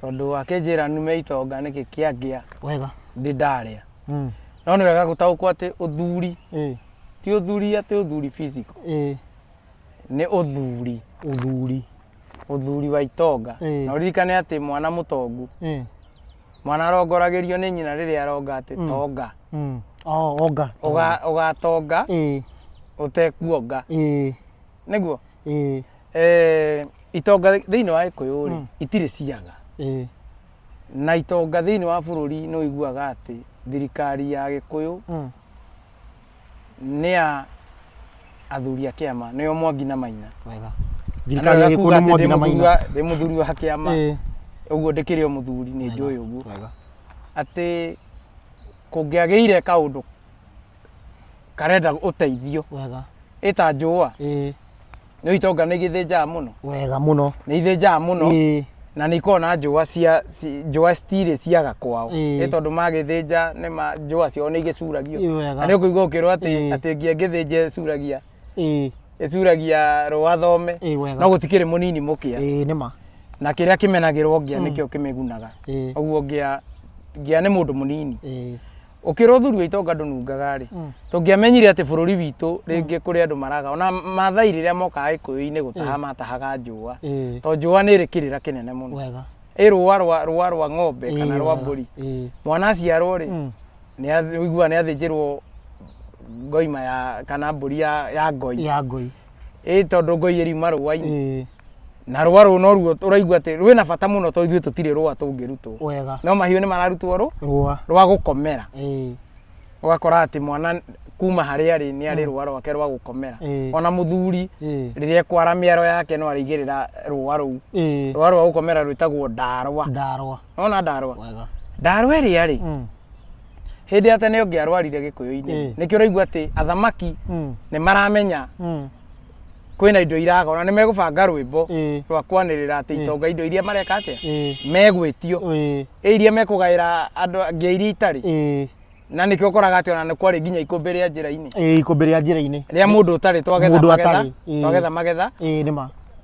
tondå akĩnjĩra nume itonga nĩkĩ kĩangĩa wega ndi ndarĩa mm. no nĩ wega gũtaũkwo atĩ ũthuri eh. ti ũthuri atĩ ũthuri physical eh. nĩ ũthuri ũthuri ũthuri wa itonga eh. na ũririkane atĩ mwana mũtongu eh. mwana arongoragĩrio nĩ nyina rĩrĩa aronga atĩ mm. tonga mm. oh, onga ũgatonga eh. ũtekuonga eh. nĩguo ĩĩ Eh, itonga thĩinĩ wa gĩkũyũ rĩ Mm. itirĩ ciaga ĩĩ na itonga thĩinĩ wa bũrũri nĩ ũiguaga atĩ thirikari ya gĩkũyũ mm, nĩ ya athuri a kĩama nĩo mwangi na maina wega thirikari ya gĩkũyũ nĩ mwangi na maina ndĩ mũthuri wa kĩama Ĩĩ, ũguo ndĩkĩrĩ o mũthuri nĩ njũĩ ũguo wega atĩ kũngĩagĩire kaũndũ karenda ũteithio wega ĩta njũa ĩĩ nĩ itonga nĩ igĩthĩnjaga mũno wega mũno nĩ ithĩnjaga mũno ĩĩ na nĩ ikoragwo na njũa cia ci- njũa citirĩ ciaga kwao Ĩĩ. nĩ tondũ magĩthĩnja nĩ ma njũa ciao nĩ igĩcuragio Ĩĩ, wega. na nĩ ũkũigua ũkĩrwo atĩ Ĩĩ. atĩ ngi- ngĩthĩnja ĩcuragia ĩĩ ĩcuragia rũa thome Ĩĩ, wega. no gũtikĩrĩ mũnini mũkĩa ĩĩ nĩ ma na kĩrĩa kĩmenagĩrwo ngĩa nĩkĩo kĩmĩgunaga Ĩĩ. ũguo ngĩa ngĩa nĩ mũndũ mũnini ĩĩ Ũkĩra ũthuri wa itonga ndũnungaga-rĩ, mm. tũngĩamenyire atĩ bũrũri witũ mm. rĩngĩ kũrĩ andũ maraga ona mathai rĩrĩa mokaga gĩkũyũ-inĩ gũtaha matahaga njũa to njũa nĩ ĩrĩ kĩrĩra kĩnene mũno ĩ rũa rwa rũa rwa ng'ombe kana rwa mbũri mwana aciarwo-rĩ mm. ũiguaga nĩ athĩnjĩrwo ngoima ya kana mbũri ya ngoi ĩ tondũ ngoi ĩriuma rũa-inĩ na rũa rũrũ no ruo ũraigua atĩ rwĩna bata mũno tondũ ithuĩ tũtirĩ rũa tũngĩrutwo wega no mahiũ nĩ mararutwo rũ rũa rwa gũkomera ĩĩ ũgakora atĩ mwana kuma harĩa arĩ nĩ arĩ rũa rwake rwa gũkomera Ĩĩ. ona mũthuri ĩĩ rĩrĩa ekwara mĩaro yake no arĩigĩrĩra rũa rũu ĩĩ rũa rwa gũkomera rwĩtagwo ndarwa ndarwa ona ndarwa wega ndarwa ĩrĩa rĩ Mm, hĩndĩ ya tene ũngĩarwarire gĩkũyũ-inĩ Ĩĩ. nĩkĩo ũraigua atĩ athamaki mm, nĩ maramenya mm. kwĩna indo iraga ona nĩ megũbanga rwĩmbo Ĩĩ. rwa kwanĩrĩra atĩ itonga indo iria mareka atĩa Ĩĩ. megwĩtio Ĩĩ. ĩ iria mekũgaĩra andũ angĩ iria itarĩ Ĩĩ. na nĩkĩo ũkoraga atĩ ona nĩ kwarĩ nginya ikũmbĩ rĩa njĩra-inĩ Ĩĩ, ikũmbĩ rĩa njĩra-inĩ rĩa mũndũ ũtarĩ twagetha Mũndũ magetha atarĩ, ĩĩ. twagetha magetha Ĩĩ, nĩ ma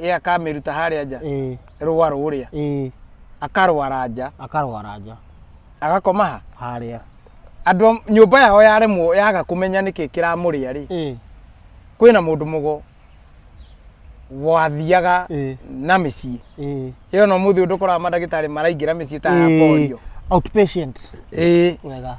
ĩ akamĩruta harĩa nja ĩ rũa rũrĩa ĩ akarwara nja akarwara nja agakoma ha harĩa andũ a nyũmba yao yaremwo yaga kũmenya nĩkĩ kĩramũrĩa rĩ ĩ kwĩna mũndũ mũgo wathiaga ĩ na mĩciĩ ĩ ĩyo no mũthĩ ũndũ ũkoraga mandagĩtarĩ maraingĩra mĩciĩ ta ya polio outpatient ĩĩ wega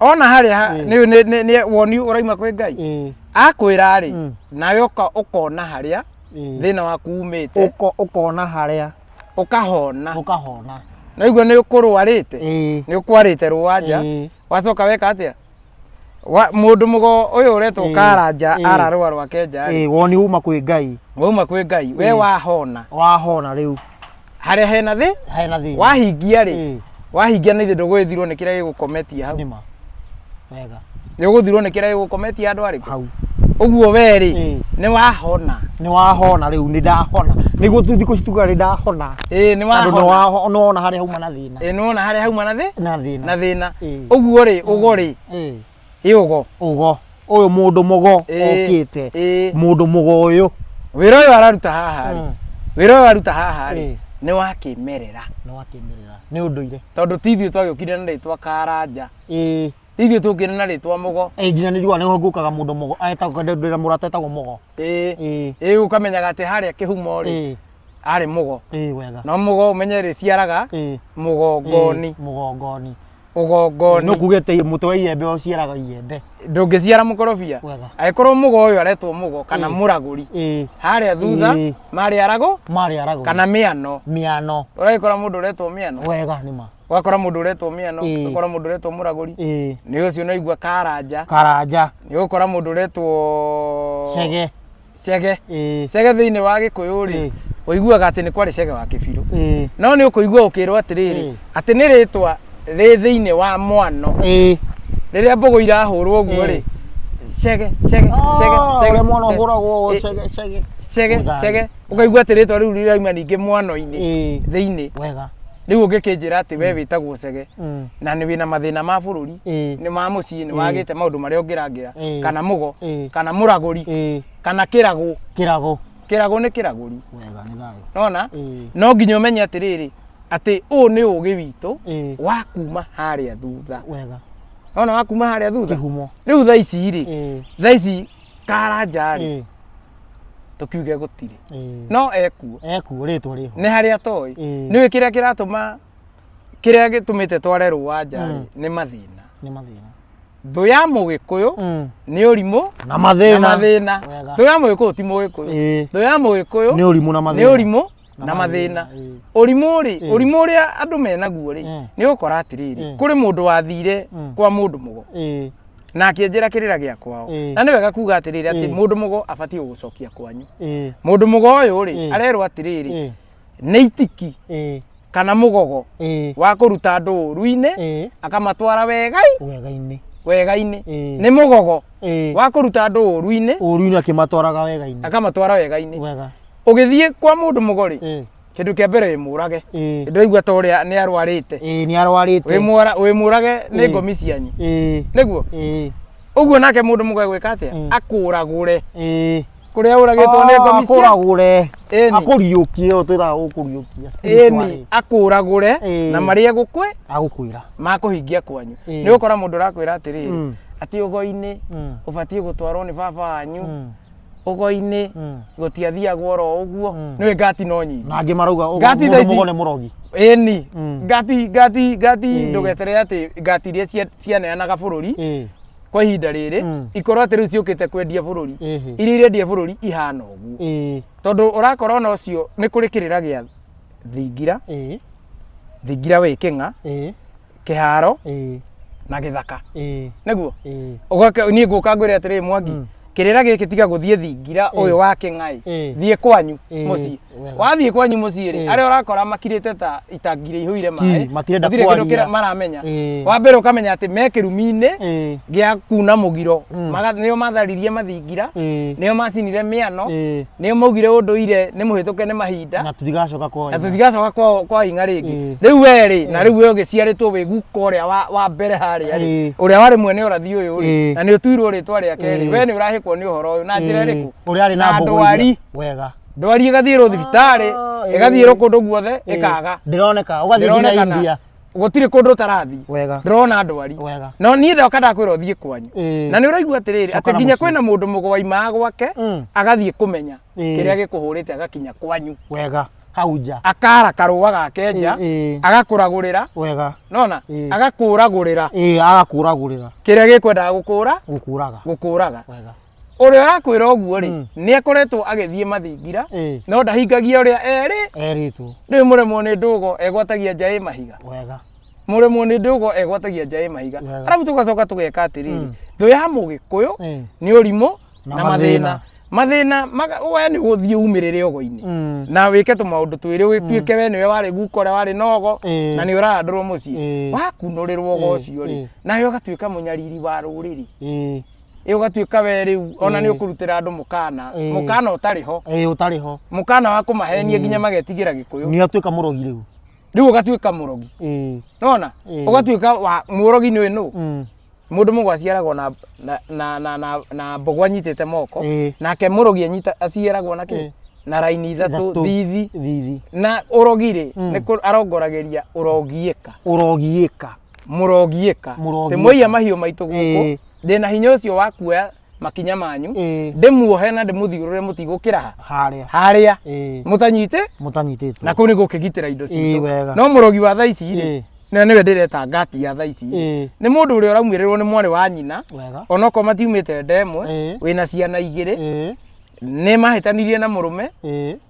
ona harĩa ha- Mm. nĩ- nĩ- nĩ- nĩ woni ũraima kwĩ ngai ĩ, akwĩra rĩ Mm. nawe ũka- ũkona harĩa ĩ. thĩna waku umĩte Ũko- ũkona harĩa ũkahona ũkahona na iguo nĩ ũkũrwarĩte Ĩ, nĩ ũkwarĩte rũwanja ĩ, wacoka weka atĩa Wa- mũndũ mũgo ũyũ ũretwo Ĩ, karanja ĩ. ararũa rwake nja ĩ, woni uma kwĩ ngai wauma kwĩ ngai we Ĩ. wahona wahona rĩu harĩa hena thĩ hena thĩna wahingia rĩ Ĩĩ. wahingia nĩ ndũgũthirwo nĩ kĩrĩa gĩgũkometia hau nĩma wega nĩ ũgũthirwo nĩ kĩrĩa gĩgũkometia andũ arĩkũ hau ũguo we rĩ Ĩĩ. nĩ wahona nĩ wahona rĩu nĩ ndahona nĩguo tu thikũ cituga nĩ ndahona ĩĩ nĩ tondũ nĩ wahona waho- nĩ wona harĩa hauma na thĩna ĩĩ nĩ wona harĩa hauma na thĩ na thĩna na thĩna Ĩĩ. ũguo rĩ ũgo rĩ Ĩĩ. ĩ ũgo ugo uyu mundu mugo Ĩĩ. okite Ĩĩ. mundu mugo uyu wĩra ũyũ araruta haha rĩ Mm. wĩra ũyũ aruta haha rĩ Ĩĩ. nĩ wa kĩmerera ni wakimirira ni unduire tondũ ti ithuĩ twagĩũkire na rĩtwa karanja ii ti ithuĩ tũkire na rĩtwa mũgo ĩ nginya nĩ riũa nĩho ngũkaga mũndũ mũgo etagwo ndĩra mũrata etagwo mũgo ĩĩ ĩĩ ĩĩ ũkamenyaga atĩ harĩa kĩhumo rĩ ĩĩ arĩ mũgo ĩĩ wega no mũgo ũmenye rĩciaraga ĩĩ mũgongoni ĩĩ, mũgongoni ũgongoni no kuge atĩ mũtĩ wa iembe ũciaraga iembe ndũngĩciara mũkorobia Wega. agĩkorwo mũgo ũyũ aretwo mũgo kana Ĩĩ. mũragũri ĩĩ harĩa thutha Ĩĩ. marĩ arago marĩ arago kana mĩano mĩano ũragĩkora mũndũ ũretwo mĩano wega nĩ ma ũgakora mũndũ ũretwo mĩano Ĩĩ. ũgakora mũndũ ũretwo mũragũri ĩĩ nĩ ũcio ũnaigua karanja karanja nĩ ũgũkora mũndũ ũretwo cege cege ĩĩ cege thĩinĩ wa gĩkũyũ rĩ Ĩĩ. ũiguaga atĩ nĩ kwarĩ cege wa kĩbirũ ĩĩ no nĩ ũkũigua ũkĩrwo atĩrĩrĩ Ĩĩ. atĩ nĩ rĩtwa rĩ thĩinĩ wa mwano ĩĩ rĩrĩa mbũgũ irahũrwo ũguo rĩ Ĩĩ. cege cege cege cege ũrĩa mwana cege, ũhũragwo Ĩĩ. cege cege cege Mũthanga. cege ũkaigua atĩ rĩtwa rĩu rĩraima ningĩ mwano-inĩ ĩĩ thĩinĩ wega rĩu ũngĩkĩnjĩra atĩ we wĩtagwo cege Mm. na nĩ wĩna mathĩna ma bũrũri Ĩĩ. nĩ ma mũciĩ nĩ wagĩte maũndũ marĩa ũngĩrangĩra Ĩĩ. kana mũgo Ĩĩ. kana mũragũri Ĩĩ. kana kĩragũ kĩrago kĩragũ nĩ kĩragũri wega nĩ thayũ nona Ĩĩ. no nginya ũmenye atĩrĩrĩ atĩ ũũ nĩ ũgĩ witũ Ĩĩ. wa kuma harĩa thutha wega nona wa kuma harĩa thutha kĩhumo rĩu thaa ici rĩ Ĩĩ. thaa ici karanja rĩ Ĩĩ. tũkiuge gũtirĩ Ĩĩ. no ekuo ekuo rĩtwa rĩho nĩ harĩa toĩ Ĩĩ. nĩwĩ kĩrĩa kĩratũma kĩrĩa gĩtũmĩte tware rũa nja Mm. nĩ mathĩna nĩ mathĩna thũ ya mũgĩkũyũ Mm. nĩ ũrimũ na na mathĩna mathĩna Wega. thũ ya mũgĩkũyũ ti mũgĩkũyũ Ĩĩ. thũ ya mũgĩkũyũ nĩ ũrimũ na nĩ mathĩna ũrimũ na mathĩna ĩĩ. ũrimũ rĩ Mm. ũrimũ ũrĩa andũ menaguo rĩ Mm. nĩ ũkora atĩrĩrĩ Mm. kũrĩ mũndũ wathire Mm. kwa mũndũ mũgo Ĩĩ. na akĩenjera kĩrĩra gĩa kwao Mm. na nĩ wega kuga atĩrĩrĩ atĩ Mm. mũndũ mũgo abatiĩ gũgũcokia kwanyu Ĩĩ. mũndũ mũgo ũyũ rĩ Mm. arerwo atĩrĩrĩ Ĩĩ. nĩ itiki Ĩĩ. kana mũgogo Ĩĩ. wa kũruta andũ ũru-inĩ Ĩĩ. akamatwara wegai wega-inĩ wegai-inĩ Ĩĩ. nĩ mũgogo Ĩĩ. wa kũruta andũ ũru-inĩ ũru-inĩ akĩmatwaraga wega-inĩ akamatwara wegai-inĩ wega ũgĩthiĩ kwa mũndũ mũgori Eh, kĩndũ kĩa mbere wĩ mũrage eh, ndĩraigua ta ũrĩa nĩ arwarĩte eh, nĩ wĩ arwarĩte mwara- wĩ mũrage nĩ Eh. ngomi cianyu Eh, nĩguo eh, ũguo nake mũndũ mũgori gwĩka atĩa Mm. akũragũre eh. kũrĩa ũragĩtwo nĩ ngomi cia akũragũre Ĩni. akũriũkie ũyũ twĩraga gũkũriũkia ĩni akũragũre Eh. na marĩa gũkwĩ agũkwĩra makũhingia kwanyu Eh. nĩ ũkora mũndũ ũrakwĩra atĩrĩrĩ Mm. atĩ ũgoi-inĩ Mm. ũbatiĩ gũtwarwo nĩ baba wanyu Mm. ũgo-inĩ Mm. gũtiathiagwo oro ũguo Mm. nĩwe ngati no nyingĩ na angĩ marauga ũgo- Ngati mũndũ thaa ici- mũgo nĩ mũrogi ĩni Mm. ngati ngati ngati Mm. ndũgeterere atĩ ngati iria cia- cianeanaga bũrũri Ĩĩ, kwa ihinda rĩrĩ Mm. ikorwo atĩ rĩu ciũkĩte kwendia bũrũri Ĩhĩ. iria irendia bũrũri ihana ũguo ĩĩ, tondũ ũrakora ona ũcio nĩ kũrĩ kĩrĩra gĩa thingira ĩĩ, thingira wĩ kĩng'a ĩĩ, kĩharo ĩĩ na gĩthaka ĩĩ nĩguo ĩĩ Ũgoka- niĩ ngũka ngwĩre atĩrĩ mwangi Mm. kĩrĩra gĩkĩ tiga gũthiĩ thingira ũyũ wa kĩng'aĩ Ĩĩ. thiĩ kwanyu Ĩĩ. mũciĩ Wega. wathiĩ kwanyu mũciĩ rĩ Ĩĩ. arĩa ũrakora makirĩte ta itangire ihũire Ki, maĩ matirenda gũtirĩ kĩndũ kwaria. kĩra- maramenya Ĩĩ. wa mbere ũkamenya atĩ me kĩrumi-inĩ ĩĩ gĩa kuna mũgiro Mm. Maga- nĩo matharirie mathingira ĩĩ nĩo macinire mĩano ĩĩ nĩo maugire ũndũire nĩ mũhĩtũke nĩ mahinda na tũtigacoka kwa na tũtigacoka kwa- kwa ing'a rĩngĩ Ĩĩ. rĩu we rĩ na rĩu we ũgĩciarĩtwo wĩ guka ũrĩa wa- wa mbere harĩa rĩ Ĩĩ. ũrĩa warĩ mwene ũrathi ũyũ rĩ Ĩĩ. na nĩ ũtuirwo rĩtwa rĩake rĩ Ĩĩ. we nĩ ũrahĩkwo nĩ ũhoro ũyũ na njĩra ĩrĩkũ ũrĩa arĩ na mbogo ndwari iria- wega ndwari ĩgathiĩrwo thibitarĩ Ah, ĩgathiĩrwo ĩĩ. kũndũ guothe Ĩĩ. ĩkaga ndĩroneka ũgathiĩ nginya Ndĩronekana. india gũtirĩ kũndũ ũtarathiĩ wega ndĩrona ndwari wega no niĩ ndoka ndakwĩra ũthiĩ kwanyu Ĩĩ. na nĩ ũraigua atĩrĩrĩ Coka atĩ na nginya mũciĩ. kwĩna mũndũ mũgwaimaa gwake Mm. agathiĩ kũmenya Ĩĩ. kĩrĩa gĩkũhũrĩte agakinya kwanyu wega hau nja akara karũa gake nja Ĩĩ, ĩĩ. agakũragũrĩra wega nona Ĩĩ. agakũragũrĩra ĩĩ agakũragũrĩra kĩrĩa gĩkwendaga gũkũra gũkũraga gũkũraga wega ũrĩa ũrakwĩra ũguo rĩ Mm. nĩ akoretwo agĩthiĩ mathingira Ĩĩ. no ndahingagia ũrĩa erĩ Erĩtwo. rĩu mũremwo nĩ ndũgo egwatagia njaĩ mahiga Wega. mũremwo nĩ ndũgo egwatagia njaĩ mahiga Wega. arabu tũgacoka tũgeka atĩrĩrĩ Mm. thũ ya mũgĩkũyũ Ĩĩ. nĩ ũrimũ Na na mathĩna mathĩna maga- we nĩ gũthiĩ umĩrĩre ogo-inĩ Mm. na wĩke tũmaũndũ twĩrĩ wĩtuĩke we nĩwe warĩ guka ũrĩa warĩ na ogo Ĩĩ. na nĩ ũrahandũrwo mũciĩ Ĩĩ. wakunũrĩrwo ogo Ĩĩ, ũcio rĩ ĩĩ. nawe ũgatuĩka mũnyariri wa rũrĩrĩ Ĩĩ. ĩ ũgatuĩka we rĩu ona nĩ ũkũrutĩra andũ mũkana Ĩĩ. mũkana ũtarĩ ho ĩĩ ũtarĩ ho mũkana wa kũmahenia nginya magetigĩra gĩkũyũ nĩ atuĩka mũrogi rĩu rĩu ũgatuĩka mũrogi ĩĩ nona Ĩĩ. ũgatuĩka wa mũrogi nĩ nũ mm, mũndũ mũgwa aciaragwo na na- na na na na mbogo anyitĩte moko Ĩĩ. nake mũrogi anyita aciaragwo na kĩ Ĩĩ. na raini ithatũ Ithatũ. thithi thithi na ũrogi rĩ nĩ kũ- arongoragĩria ũrogiĩka ũrogiĩka mũrogiĩka Mũrogiĩka. ndĩmũiya mahiũ maitũ gũkũ Ĩĩ. ndĩ na hinya ũcio wa kuoya makinya manyu Ĩĩ. ndĩmuohe na ndĩmũthiũrũre mũtigũkĩra ha harĩa harĩa Ĩĩ. mũtanyite mũtanyitĩtwo na kũu nĩ gũkĩgitĩra indo Ĩĩ, wega. citũ no mũrogi wa thaa ici Ĩĩ. rĩ nĩwe nĩwe ndĩreta ngati ya thaa ici Ĩĩ. nĩ mũndũ ũrĩa ũraumĩrĩrwo nĩ mwarĩ wa nyina wega onokorwo matiumĩte nda ĩmwe Ĩĩ. wĩna ciana igĩrĩ Ĩĩ. nĩ mahĩtanirie na mũrũme Ĩĩ.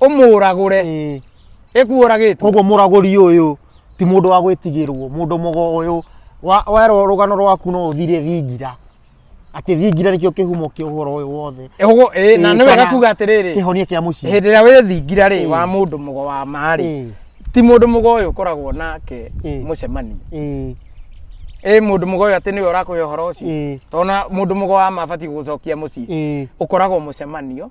ũmũragũre Ĩĩ. ĩkuũragĩte koguo mũragũri ũyũ ti mũndũ wa gwĩtigĩrwo mũndũ mũgo ũyũ wa- werwo rũgano rwaku no ũthire thingira atĩ thingira nĩkĩo kĩhumo kĩa ũhoro ũyũ wothe Ũguo, ĩĩ, na Ĩĩ, nĩ wega kana kuga atĩrĩrĩ kĩhonia kĩa mũciĩ hĩndĩ ĩrĩa wĩthingira rĩ Ĩĩ. wa mũndũ mũgo wa marĩ Ĩĩ, ti mũndũ mũgo ũyũ ũkoragwo nake Ĩĩ. mũcemanio ĩĩ, ĩ mũndũ mũgo ũyũ atĩ nĩwe ũrakũhe ũhoro ũcio ĩĩ, tona mũndũ mũgo wa mabatiĩ gũcokia mũciĩ ĩĩ, ũkoragwo mũcemanio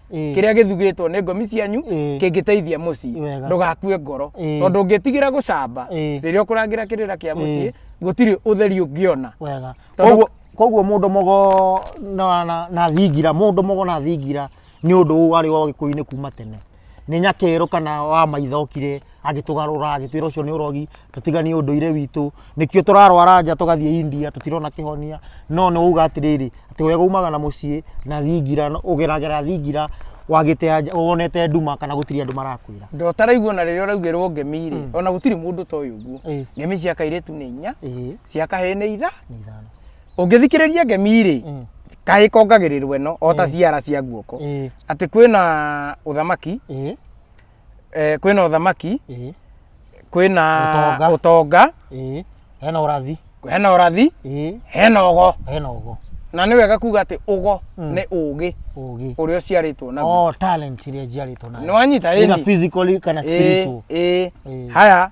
Ĩĩ. kĩrĩa gĩthugĩtwo nĩ ngomi cianyu Ĩĩ. kĩngĩteithia mũciĩ Wega. ndũgakue ngoro Ĩĩ. tondũ ũngĩtigĩra gũcamba Ĩĩ. rĩrĩa ũkũrangĩra kĩrĩra kĩa mũciĩ gũtirĩ ũtheri ũngĩona wega Tondũ- koguo koguo mũndũ mũgo na, na, na thingira mũndũ mũgo na thingira nĩ ũndũ ũyũ warĩ wa ũgĩkũyũ-inĩ kuma tene nĩ nyakerũ kana wa maithokire agĩtũgarũra agĩtwĩra ũcio nĩ ũrogi tũtiganie ũndũire witũ nĩkĩo tũrarwara nja tũgathiĩ India tũtirona kĩhonia no nĩ wauga atĩrĩrĩ atĩ wega umaga na mũciĩ na thingira ũgeragera thingira wagĩte anja wonete nduma kana gũtirĩ andũ marakwĩra Ndo ũtaraigua na rĩrĩa ũraugĩrwo ngemi rĩ, Mm. ona gũtirĩ mũndũ ũtoĩ Ĩĩ. ũguo. Ngemi cia kairĩtu nĩ inya, ĩĩ cia kahĩĩ nĩ itha. nĩ ithano Ũngĩthikĩrĩria ngemi rĩ, Mm. kahĩĩ kongagĩrĩrwo ĩno o ta Ĩĩ. ciara cia guoko. ĩĩ Atĩ kwĩna ũthamaki, ĩĩ eh, kwĩna ũthamaki ĩĩ kwĩna Ũtonga. ũtonga ĩĩ hena ũrathi hena ũrathi ĩĩ hena ũgo hena ũgo na nĩ wega kuga atĩ ũgo Mm. nĩ ũgĩ ũgĩ ũrĩa ũciarĩtwo naguo oh talent iria njiarĩtwo nayo nĩ wanyita either ĩni physically kana spiritual ĩĩ ĩĩ Ĩĩ. haya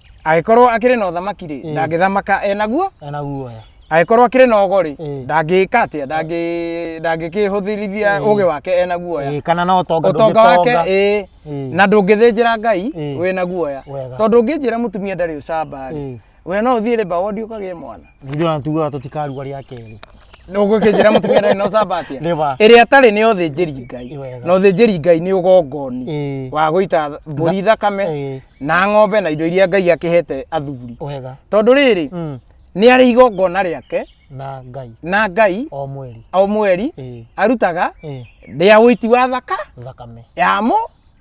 agĩkorwo akĩrĩ na ũthamaki rĩ Ĩĩ. ndangĩthamaka enaguo ena guoya agĩkorwo akĩrĩ na ogo rĩ Ĩĩ. ndangĩka atĩa Ndangĩ- ndangĩkĩhũthĩrithia Ĩĩ. ũgĩ wake ena guoya Ĩĩ, kana na ũtonga ũtonga wake ndũngĩtonga. ĩĩ Ĩĩ. na ndũngĩthĩnjĩra ngai Ĩĩ. wĩna guoya Wega. tondũ ũngĩnjĩra mũtumia ndarĩ ũcamba rĩ Ĩĩ. we no ũthiĩ rĩmba wondi ũkagĩe mwana Githĩ ona tugaga tũtikaruga rĩa kerĩ. Ndũgũkĩnjĩra mũtumia ndarĩ na ũcamba atĩa? Nĩ ba. Ĩrĩa atarĩ nĩ ũthĩnjĩri Ngai. Ĩ wega. Na ũthĩnjĩri Ngai nĩ ũgongoni Ĩĩ. wa gũita mbũri Ĩĩ. thakame na ng'ombe na indo iria Ngai akĩhete athuri. Wega. Tondũ rĩrĩ, Mm. nĩ arĩ igongona rĩake Na Ngai na Ngai o mweri. o mweri Ĩĩ. arutaga Ĩĩ. rĩa ũiti wa thaka Thakame ya mũ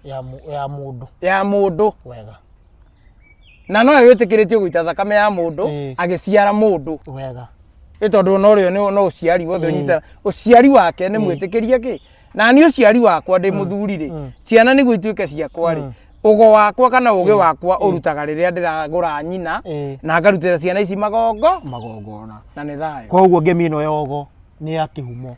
ya mũ- ya mũndũ. ya mũndũ. Wega. na no yo ĩtĩkĩrĩtio gũita thakame ya mũndũ Ĩĩ. agĩciara mũndũ wega nĩ tondũ no rĩo nĩ- no ũciari wothe ũnyita ũciari wake nĩ mwĩtĩkĩrie kĩ na niĩ ũciari wakwa ndĩ mũthuri rĩ ciana nĩguo ituĩke ciakwa rĩ ũgo wakwa kana ũgĩ wakwa ũrutaga rĩrĩa ndĩragũra nyina Ĩĩ. na ngarutĩra ciana ici magongo magongona na nĩ thayũ koguo ngemi ĩno yogo nĩ ya kĩhumo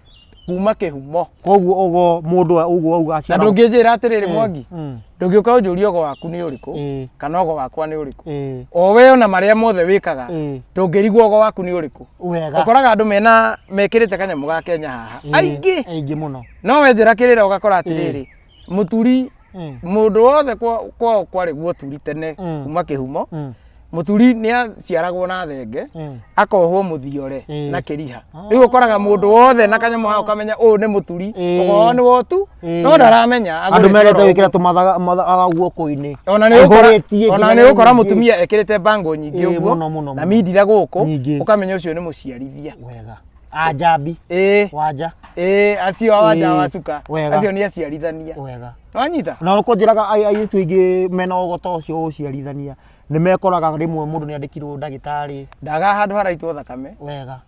kuma kĩhumo koguo ũgo mũndũ ũyũ ũguo wauga na aciara ndũngĩnjĩra atĩrĩrĩ mwangi Mm. ndũngĩũka ũnjũrie ũgo waku nĩ ũrĩkũ Ĩĩ. kana ũgo wakwa nĩ ũrĩkũ Ĩĩ. o we ona marĩa mothe wĩkaga Ĩĩ. ndũngĩrigwo ũgo waku nĩ ũrĩkũ wega ũkoraga andũ mena mekĩrĩte kanyamũ ga kenya haha Ĩĩ. aingĩ aingĩ mũno no wenjĩra kĩrĩra ũgakora atĩrĩrĩ mũturi Mm. mũndũ wothe kwa- kwao kwarĩ guoturi tene Mm. kuma kĩhumo Mm. mũturi nĩ aciaragwo na thenge Mm. akohwo mũthiore Ĩĩ. na kĩriha Ah. rĩu ũkoraga mũndũ wothe na kanyamũ hao kamenya ũyũ nĩ mũturi Ĩĩ. ũkorwo nĩ wotu Ĩĩ. no ndaramenya andå agũrĩtio merete oro wä kä ra tå mathaga guoko-inä ona nä å kora må tumia ekärä te mbango nyingä Ĩĩ, å guo mũno, mũno, na mũno. mindira gå kå Nyingĩ. å kamenya å cio nä må ciarithia wega Ajabi. ĩĩ Wanja. ĩĩ acio awaja Ĩĩ, wacuka wega. acio nĩ aciarithania Wega. wanyita Na nĩ kũnjĩraga ai- airĩtu aingĩ mena ũgota ũcio wa ũciarithania nĩ mekoraga rĩmwe mũndũ nĩ andĩkirwo ndagĩtarĩ ndaga handũ haraitwo thakame wega.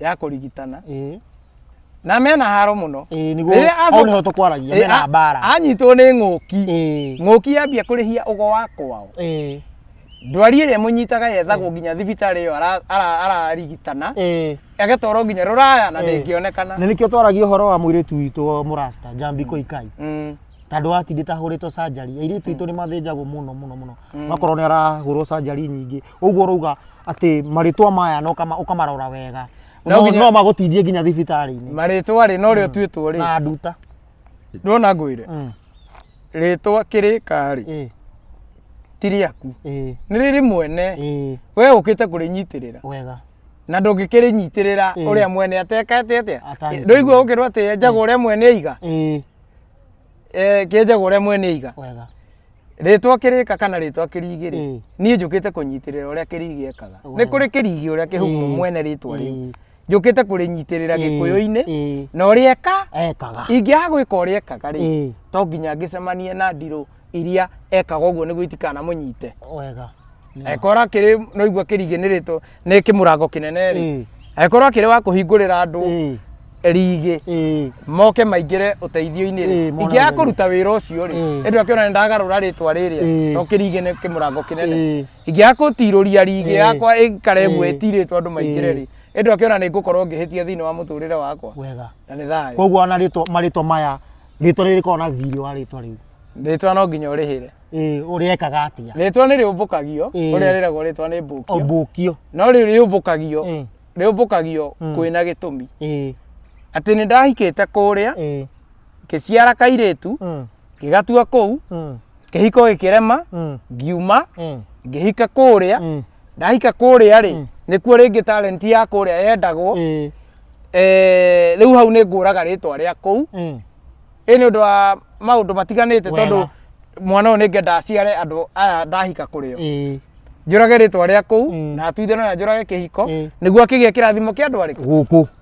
ya kũrigitana Ĩĩ. na mena haro mũno Ĩĩ nĩguo Rĩrĩa hau acoka- nĩho tũkwaragia Ĩĩ, mena a- mbara. anyitwo nĩ ng'ũki Ĩĩ. ng'ũki yambia kũrĩhia ũgo wa kwao Ĩĩ. ndwari ĩrĩa ĩmũnyitaga yethagwo nginya thibitarĩ ĩyo ara- ara- ararigitana Eh, agatwarwo nginya rũraya na Eh. ndĩngĩonekana na nĩkĩo twaragia ũhoro wa mũirĩtu witũ mũrasta njambi koikai Mm. tandå watindä tahårĩtwo sanjari airĩtu itå nä mathĩnjagwo må no må no må no makorwo nä arahårwo sanjari nyingä å guo rauga atä marĩtwa maya na ũkama- ũkamarora wega No no nginya- no magå tindie nginya thibitarä-inä marĩtwa rĩ no rĩo tuĩtwo rĩ na nduta ndona ngwĩre Mm. rĩtwa kĩrĩka rĩ ĩ ti rĩaku ĩ nĩ rĩrĩ mwene ĩ we ũkĩte kũrĩnyitĩrĩra wega na ndũngĩkĩrĩnyitĩrĩra Ĩĩ. ũrĩa mwene atekate atĩa Atanyitĩrĩra. ndũigua gũkĩrwo atĩ enjaga ũrĩa mwene aiga ĩ Eh, kĩenjaga ũrĩa mwene aiga wega rĩtwa kĩrĩka kana rĩtwa kĩrigi rĩ Ĩĩ. niĩ njũkĩte kũnyitĩrĩra ũrĩa kĩrigi ekaga nĩ Wega. kũrĩ kĩrigi ũrĩa kĩhumu Ĩĩ. mwene rĩtwa rĩu Ĩĩ. njũkĩte kũrĩnyitĩrĩra Ĩĩ, gĩkũyũ-inĩ ĩĩ, na ũrĩa eka ekaga ingĩaga gwĩka ũrĩa ekaga rĩ Ĩĩ, to nginya ngĩcemanie na ndirũ iria ekaga ũguo nĩguo itikanamũnyite wega ekora kĩrĩ noigua kĩriganĩrĩtwo nĩ kĩmũrango kĩnene rĩ Ĩĩ, ekora kĩrĩ wa kũhingũrĩra andũ ĩĩ, rigi ĩĩ, moke maingĩre ũteithio-inĩ rĩ Ĩĩ, mona ingĩaga wega. kũruta wĩra ũcio rĩ Ĩĩ. ĩndũ akĩona nĩ ndagarũra rĩtwa rĩrĩa Ĩĩ. to kĩrigĩ nĩ kĩmũrango kĩnene ĩĩ. ingĩaga kũtirũria rigi Eh. yakwa ĩikare Eh. guo ĩtirĩtwo andũ maingĩre rĩ ĩndũ akĩona nĩ ngũkorwo ngĩhĩtia thĩinĩ wa mũtũrĩre wakwa wega na nĩ thayũ koguo ona rĩtwa marĩtwa maya rĩtwa rĩrĩ korwo na thirĩ wa rĩtwa rĩu rĩtwa no nginya ũrĩhĩre ĩĩ ũrĩekaga atĩa rĩtwa nĩ rĩũmbũkagio Eh. ũrĩa rĩragwo rĩtwa nĩ mbũkio ũmbũkio no rĩu rĩũmbũkagio Eh. rĩũmbũkagio Mm. kwĩna gĩtũmi ĩĩ atĩ nĩ ndahikĩte kũrĩa ĩĩ ngĩciara kairĩtu mm. ngĩgatua kũu Mm. kĩhiko gĩkĩrema Mm. ngiuma Mm. ngĩhika kũrĩa Mm. ndahika kũrĩa rĩ nĩkuo rĩngĩ talent ya kũrĩa yendagwo Eh. Eh, rĩu hau nĩ ngũraga rĩtwa rĩa kũu Mm. ĩ nĩ ũndũ wa maũndũ matiganĩte Wega. tondũ mwana ũyũ nĩ ngenda aciare andũ aya ndahika kũrĩo Eh. njũrage rĩtwa rĩa kũu Mm. na atuithano na njũrage kĩhiko Mm. nĩguo akĩgĩa kĩrathimo kĩa andũ arĩkũ Gũkũ.